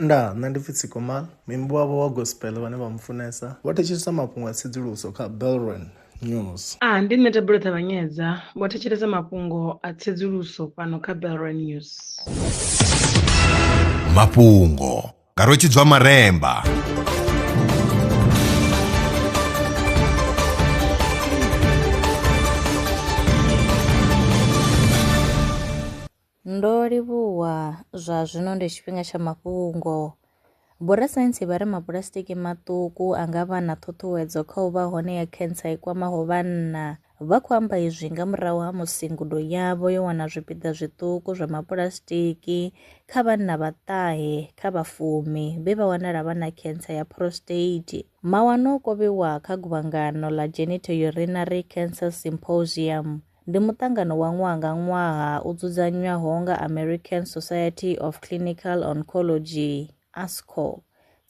Ndaa, nṋe ndi pfi Tsikomal, muimbi wavho wa gospel vhane vha mu funesa vho thetshelesa mafhungo a tsedzuluso kha Belron News. A, ndi nṋe Thabelo Ṱavhanyedza, vho thetshelesa mafhungo a tsedzuluso fhano kha Belron News. Mafhungo nga Rwetshidzwa Maremba. Ndo livhuwa zwa zwino ndi tshifhinga tsha mafhungo. Vhorasaintsi vha ri mapuḽasitiki maṱuku a nga vha na ṱhuṱhuwedzo kha u vha hone ya khentsa i kwamaho vhanna. Vha khou amba izwi nga murahu ha musi ngudo yavho yo wana zwipiḓa zwiṱuku zwa mapuḽasitiki kha vhanna vhaṱahe kha vha fumi vhe vha wanala vha na khentsa ya prostate. Mawanwa o kovhiwa kha guvhangano ḽa Genitourinary Cancer Symposium Ndi muṱangano wa ṅwaha nga ṅwaha u dzudzanywaho nga American Society of Clinical Oncology, ASCO.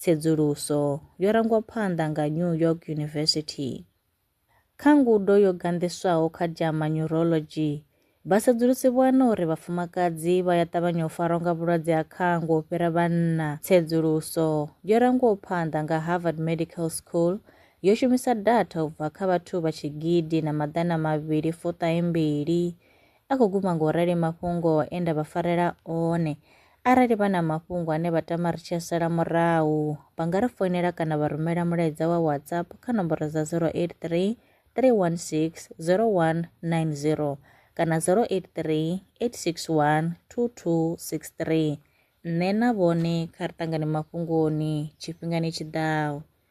Tsedzuluso yo rangwa phanḓa nga New York University. Kha ngudo yo ganḓiswaho kha JAMA Neurology, vhasedzulusi vho wana uri vhafumakadzi vha ya ṱavhanya u farwa nga vhulwadze ha khango u fhira vhanna. Tsedzuluso yo rangwaho phanḓa nga Harvard Medical School yo shumisa datha u bva kha vhathu vha tshigidi na maḓana mavhili fuṱahe mbili a khou guma ngo rali mafhungo e nda vha farela one arali vha na mafhungo ane vha tama ri tshi sala murahu vha nga ri foinela kana vha rumela mulaedza wa whatsapp kha nomboro dza 083 316 0190 kana 083 861 2263 nṋe na vhone kha ri ṱangane mafhungoni tshifhingani tshiḓaho